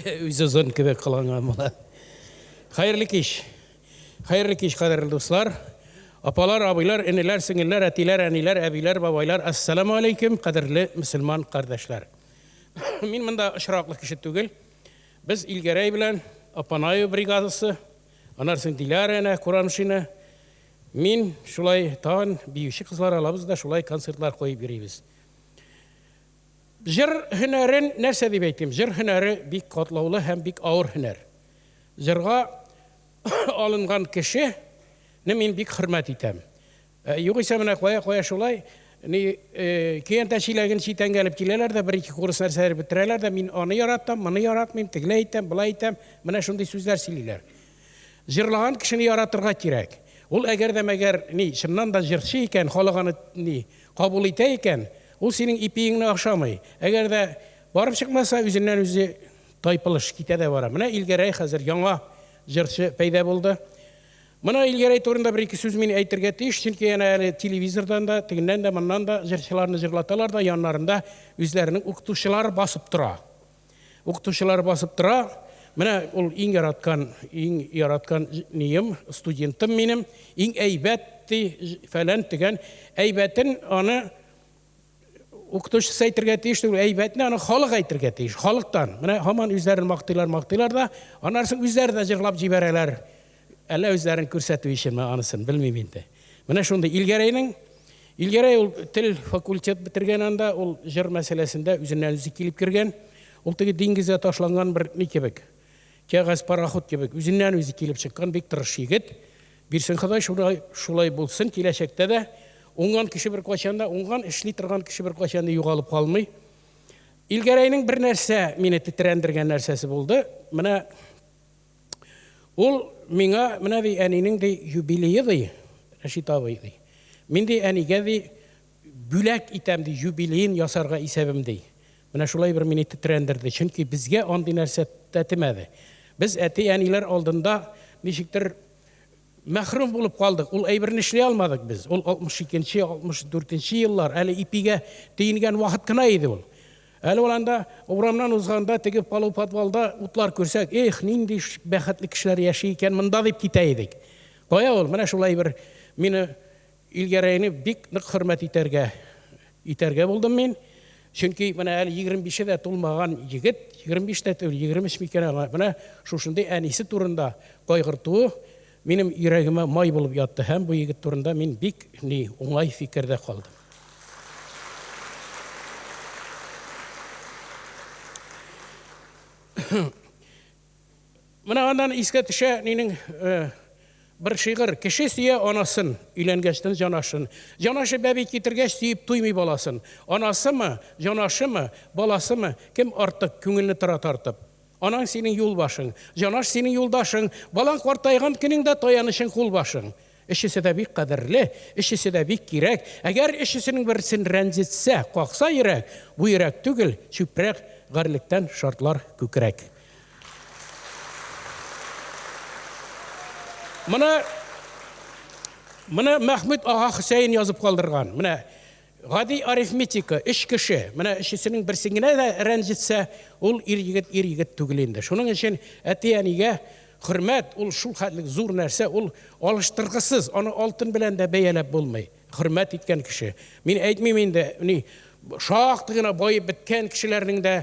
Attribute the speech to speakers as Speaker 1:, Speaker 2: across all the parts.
Speaker 1: Үз озын кебек кыланган була. Хәерле кич. Хәерле кич, кадерле дуслар. Апалар, абыйлар, энеләр, сеңелләр, әтиләр, әниләр, әбиләр, бабайлар, ассаламу алейкум, кадерле мөселман кардәшләр. Мин монда очраклы кеше түгел. Без Илгәрәй белән Апанаю бригадасы, анарсын Диляра әнә Курамшина. Мин шулай тагын биюче кызлар алабыз да шулай концертлар куеп йөрибез. Җыр һөнәрен нәрсә дип әйтим? Җыр һөнәре бик катлаулы һәм бик авыр һөнәр. Җырга алынган кеше не мин бик хөрмәт итәм. Югыйсә менә кая кая шулай ни көянтә чиләген читәнгә элеп киләләр дә бер-ике курс нәрсәләр бетерәләр дә мин аны яратам, моны яратмыйм, тегеләй итәм, болай итәм, менә шундый сүзләр сөйлиләр. Җырлаган кешене яратырга кирәк. Ул әгәр дә мәгәр ни чыннан да җырчы икән, халык аны ни Кабул итә икән, ул синең ипиеңне ашамый. Әгәр дә барып чыкмаса, үзеннән-үзе тайпылыш китә дә бара. Менә Илгәрәй хәзер яңа җырчы пәйда булды. Моны Илгәрәй турында бер-ике сүз мин әйтергә тиеш, чөнки әнә әле телевизордан да, тегеннән дә, моннан да җырчыларны җырлаталар да, яннарында үзләренең укытучылары басып тора. Укытучылар басып тора. Менә ул иң яраткан, иң яраткан нием, студентым минем, иң әйбәт ди, фәлән тегән. Әйбәтен аны укытучысы әйтергә тиеш түгел, әйбәтне аны халык әйтергә тиеш, халыктан. Менә һаман үзләрен мактыйлар, мактыйлар да, аннары үзләре дә җырлап җибәрәләр. Әллә үзләрен күрсәтү өченме, анысын белмим инде. Менә шундый Илгәрәйнең Илгәрәй ул тел факультет бетергән анда, ул җыр мәсьәләсендә үзеннән үзе килеп кергән. Ул теге диңгездә ташланган бер ни кебек, кәгазь пароход кебек, үзеннән үзе килеп чыккан бик тырыш егет. Бирсен Ходай шулай, шулай булсын киләчәктә дә. Уңган кеше бер кайчан да, уңган эшли торган кеше бер кайчан да югалып калмый. Илгәрәйнең бер нәрсә мине тетрәндергән нәрсәсе булды. Менә Ул миңа, менә, ди, әнинең, ди, юбилее, ди, Рәшит абый, ди, мин, ди, әнигә, ди, бүләк итәм, ди, юбилеен ясарга исәбем, ди. Менә шулай бер мине тетрәндерде, чөнки безгә андый нәрсә тәтемәде. Без әти-әниләр алдында ничектер Мәхрүм булып калдык, ул әйберне эшли алмадык без. Ул 62 нче, 64 нче еллар, әле ипигә тиенгән вакыт кына иде ул. Әле ул анда урамнан узганда, теге полуподвалда утлар күрсәк, Эх, нинди бәхетле кешеләр яши икән монда, дип китә идек. Кая ул, менә шул әйбер мине Илгәрәйне бик нык хөрмәт итәргә итәргә булдым мин. Чөнки менә әле егерме бише дә тулмаган егет, егерме биш тә түгел, егерме өч микән аңа, менә шушындый әнисе турында кайгыртуы минем йөрәгемә май булып ятты һәм бу егет турында мин бик ни уңай фикердә калдым. Менә аннан искә төшә минем бер шигырь. Кеше сөя анасын, өйләнгәчтен җанашын. Җанашы бәби китергәч, сөеп туймый баласын. Анасымы, җанашымы, баласымы, кем артык, күңелне тора тартып. Анаң синең юлбашың, җанаш синең юлдашың, балаң картайган көнеңдә таянычың, кулбашың. Өчесе дә бик кадерле, өчесе дә бик кирәк. Әгәр өчесенең берсен рәнҗетсә, какса йөрәк, бу йөрәк түгел, чүпрәк, гарьлектән шартлар күкрәк. Моны, моны Мәхмүт ага Хөсәен язып калдырган. Менә Гади арифметика, өч кеше, менә өчесенең берсе генә дә рәнҗетсә, ул ир-егет ир-егет түгел инде. Шуның өчен әти-әнигә хөрмәт, ул шул хәтлек зур нәрсә, ул алыштыргысыз, аны алтын белән дә бәяләп булмый. Хөрмәт иткән кеше. Мин әйтмим инде, ни, шактый гына баеп беткән кешеләрнең дә,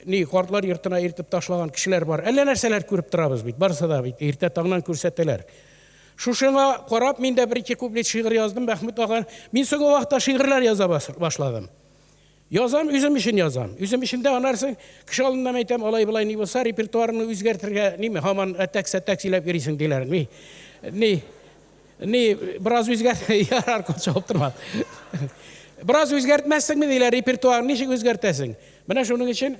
Speaker 1: ни, картлар йортына илтеп ташлаган кешеләр бар. Әллә нәрсәләр күреп торабыз бит, барысы да бит иртә таңнан күрсәтәләр. Шушыңа карап мин дә бер-ике куплет шигырь яздым, Мәхмүт ага. Мин соңгы вакытта шигырьләр яза башладым. Язам, үзем өчен язам. Үзем өчен дә анарсың, кеше алдында мин әйтәм, алай-болай ни булса, репертуарыңны үзгәртергә, ниме, һаман әтәк-сәтәк сөйләп йөрисең, диләр. Ни, ни, ни, бераз үзгәрт, ярар, күп чабып торма. Бераз үзгәртмәссеңме, диләр, репертуарың ничек үзгәртәсең? Менә шуның өчен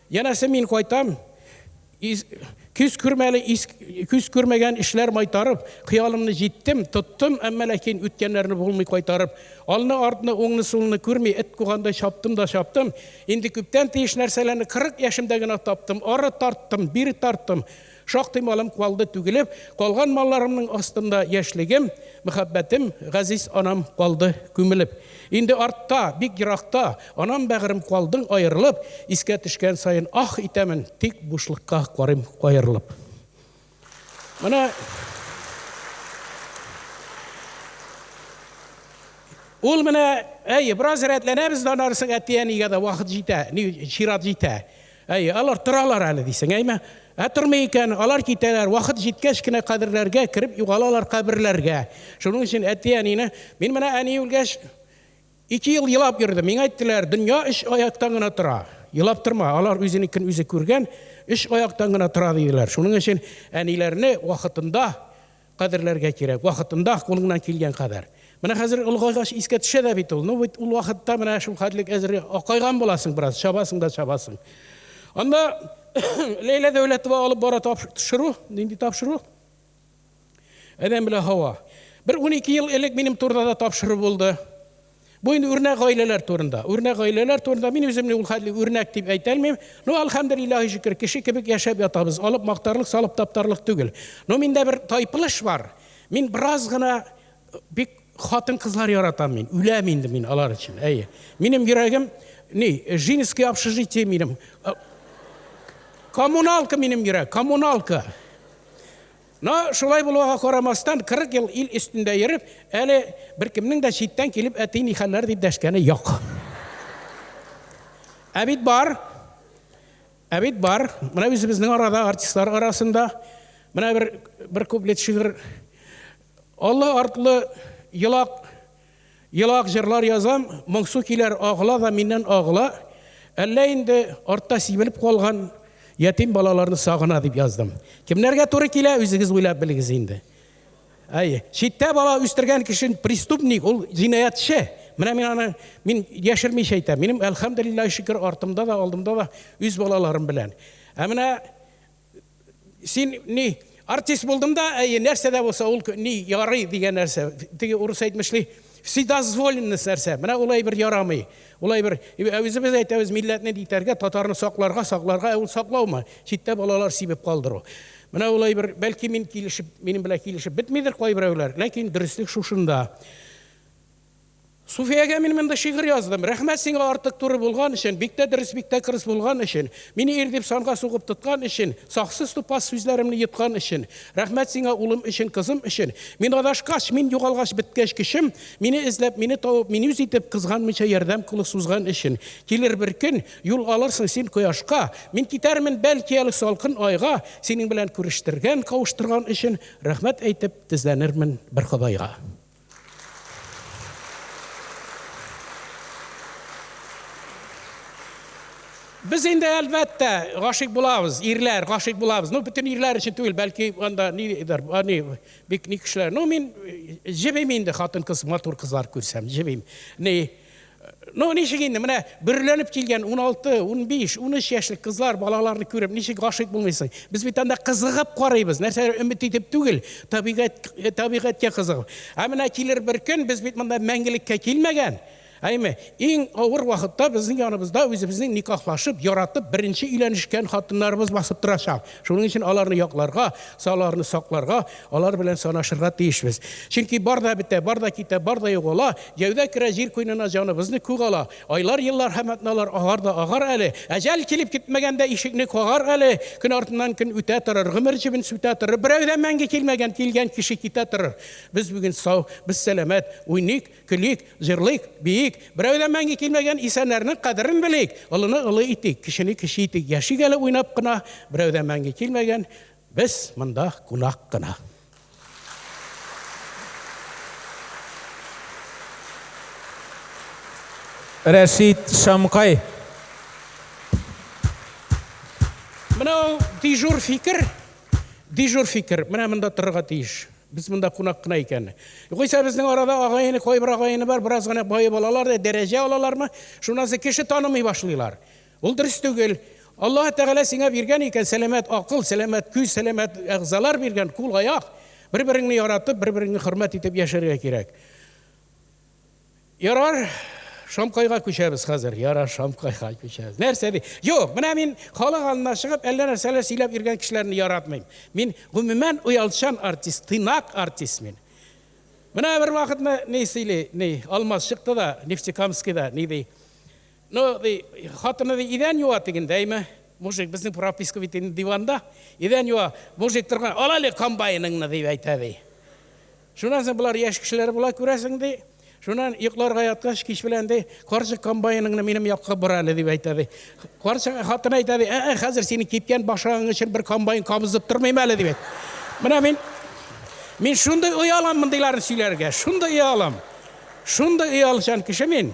Speaker 1: Янәсе мин кайтам, Күз күрмәле күз күрмәгән эшләр майтарып, Хыялымны җиттем, тоттым, әмма ләкин Үткәннәрне булмый кайтарып. Алны-артны, уңны-сулны күрми, Эт кугандай чаптым да чаптым. Инде күптән тиеш нәрсәләрне Кырык яшемдә генә таптым. Ары тарттым, бире тарттым. Шактый малым калды түгелеп, Калган малларымның астында Яшьлегем, мәхәббәтем, Газиз анам калды күмелеп. Инде артта, бик еракта, Анам бәгърем, калдың аерылып, Искә төшкән саен аһ итәмен, Тик бушлыкка карыйм каерылып. Менә Ул менә, әйе, бераз рәтләнәбез дә аннары соң әти-әнигә дә вакыт җитә, чират җитә. Әйе, алар торалар әле дисең, әйме? Ә тормый икән, алар китәләр, вакыт җиткәч кенә каберләргә кереп югалалар каберләргә. Шуның өчен әти-әнине, мин менә әни үлгәч, ике ел елап йөрдем. Миңа әйттеләр, дөнья өч аяктан гына тора. Елап торма, алар үзенекен үзе күргән, өч аяктан гына тора диделәр. Шуның өчен әниләрне вакытында Кадерләргә кирәк, вакытында кулыңнан килгән кадәр. Менә хәзер олыгайгач искә төшә дә бит ул. Ну бит ул вакытта менә шул хәтлек әзер акайган буласың бераз, чабасың да чабасың. Анда Ләйлә Дәүләтова алып бара тапшыру, нинди тапшыру? Адәм белән Һава. Бер 12 ел элек минем турыда да тапшыру булды. Бу инде үрнәк гаиләләр турында. Үрнәк гаиләләр турында мин үземне ул хәтле үрнәк дип әйтә алмыйм. Ну, алхамдулиллахи шөкер, кеше кебек яшәп ятабыз. Алып мактарлык, салып таптарлык түгел. Ну, миндә бер тайпылыш бар. Мин бераз гына бик хатын-кызлар яратам мин. Үләм инде мин алар өчен. Әйе. Минем йөрәгем ни, Жинское общежитие минем. Коммуналка минем йөрәк, коммуналка. Но, шулай булуга карамастан, 40 ел ил өстендә йөреп, әле беркемнең дә читтән килеп әти ни хәлләр дип дәшкәне юк. Ә бит бар. Ә бит бар. Менә үзебезнең арада, артистлар арасында менә бер бер куплет шигырь Олы артлы елак Елак җырлар язам, моңсу көйләр агыла да миннән агыла. Әллә инде артта сибелеп калган ятим балаларны сагына дип яздым. Кемнәргә туры килә, үзегез уйлап белегез инде. Әй, читтә бала үстергән кеше преступник, ул җинаятьче. Менә мин аны мин яшермичә әйтәм. Минем әлхәмдулиллаһи шөкер артымда да, алдымда да үз балаларым белән. Ә менә Син ни, артист булдым да, әйе, нәрсә дә булса, ул ни, ярый дигән нәрсә. Теге урыс әйтмешли, вседозволенность нәрсә. Менә ул әйбер ярамый. Ул әйбер, ә үзебез әйтәбез, милләтне дитәргә, татарны сакларга, сакларга, ә ул саклаумы? Читтә балалар сибеп калдыру. Менә ул әйбер, бәлки мин килешеп, минем белән килешеп бетмидер кайберәүләр, ләкин дөреслек шушында. Суфиягә мин монда шигырь яздым. Рәхмәт сиңа артык туры булган өчен, бик тә дөрес, бик тә кырыс булган өчен, мине ир дип санга сугып тоткан өчен, саксыз тупас сүзләремне йоткан өчен. Рәхмәт сиңа улым өчен, кызым өчен. Мин адашкач, мин югалгач беткәч көчем, мине эзләп, мине табып, мин үз итеп, кызганмыйча ярдәм кулы сузган өчен. Килер бер көн, юл алырсың син кояшка, мин китәрмен, бәлки әле салкын айга, синең белән күрештергән, кавыштырган өчен рәхмәт әйтеп, тезләнермен бер Ходайга. Без инде әлбәттә гашык булабыз, ирләр гашык булабыз. Ну, бөтен ирләр өчен түгел, бәлки анда нидер, ани бик ни кешеләр. Ну, мин җебим инде хатын-кыз, матур кызлар күрсәм, җебим. Ни, Ну, ничек инде, менә бөрләнеп килгән 16, 15, 13 яшьлек кызлар, балаларны күреп, ничек гашыйк булмыйсың? Без бит анда кызыгып карыйбыз, нәрсәләр өмет итеп түгел, табигать, э, табигатькә кызыгып. Ә менә килер бер көн, без бит монда мәңгелеккә килмәгән. Әйме, иң авыр вакытта безнең яныбызда үзебезнең никахлашып, яратып, беренче өйләнешкән хатыннарыбыз басып торачак. Шуның өчен аларны якларга, аларны сакларга, Алар белән санашырга тиешбез. Чөнки бар да бетә, бар да китә, бар да югала, җәүдә керә җир куенына, җаныбызны күк ала. Айлар, еллар һәм атналар агар да агар әле. Әҗәл килеп китмәгәндә ишекне кагар әле. Көн артыннан көн үтә торыр, гомер җебен сүтә торыр. Берәү дә мәңге килмәгән, килгән кеше китә торыр. Без бүген сау, без сәламәт, уйныйк, көлик, җырлыйк, биик. Берәү дә мәңге килмәгән исәннәрнең кадерен белик. Олыны олы итик, кечене кече итик. Яшик әле уйнап кына, берәү дә мәңге килмәгән, Без монда кунак кына.
Speaker 2: Рәшит Шамкай.
Speaker 1: Менә ул дежур фикер. Дежур фикер. Менә монда торырга тиеш. Без монда кунак кына икән. Югыйсә безнең арада агайыны, кайбер агайыны бар, бераз гына баеп алалар да, дәрәҗә алалармы, шуннан соң кеше танымый башлыйлар. Ул дөрес түгел. Аллаһ Тәгалә сиңа биргән икән, сәламәт акыл, сәламәт күз, сәламәт әгъзалар биргән, кул, аяк. Бер-береңне яратып, бер-береңне хөрмәт итеп яшәргә кирәк. Ярар, Шамкайга күчәбез хәзер. Ярар, Шамкайга күчәбез. Нәрсә ди? Юк, менә мин халык алдына чыгып, әллә нәрсәләр сөйләп йөргән кешеләрне яратмыйм. Мин гомумән уялчан артист, тыйнак артист мин. Менә бер вакытны ни сөйли, ни, Алмаз чыкты да, Нефтекамскида, ни ди? Ну, ди, хатыны ди, идән юа тегендә, әйме? Мужик, безнең прописка бит инде диванда. Идән юа. Мужик торган, ал әле комбайныңны, дип әйтә, ди. Шуннан соң болар яшь кешеләр була, күрәсең, ди. Шуннан йокларга яткач, кич белән ди, карчык комбайныңны минем якка бор әле, дип әйтә, ди. Карчык хатыны әйтә, ди, ә-ә, хәзер синең кипкән башагың өчен бер комбайн кабызып тормыйм әле, дип әйтә. Менә мин мин шундый оялам мондыйларны сөйләргә, шундый оялам. Шундый оялчан кеше мин.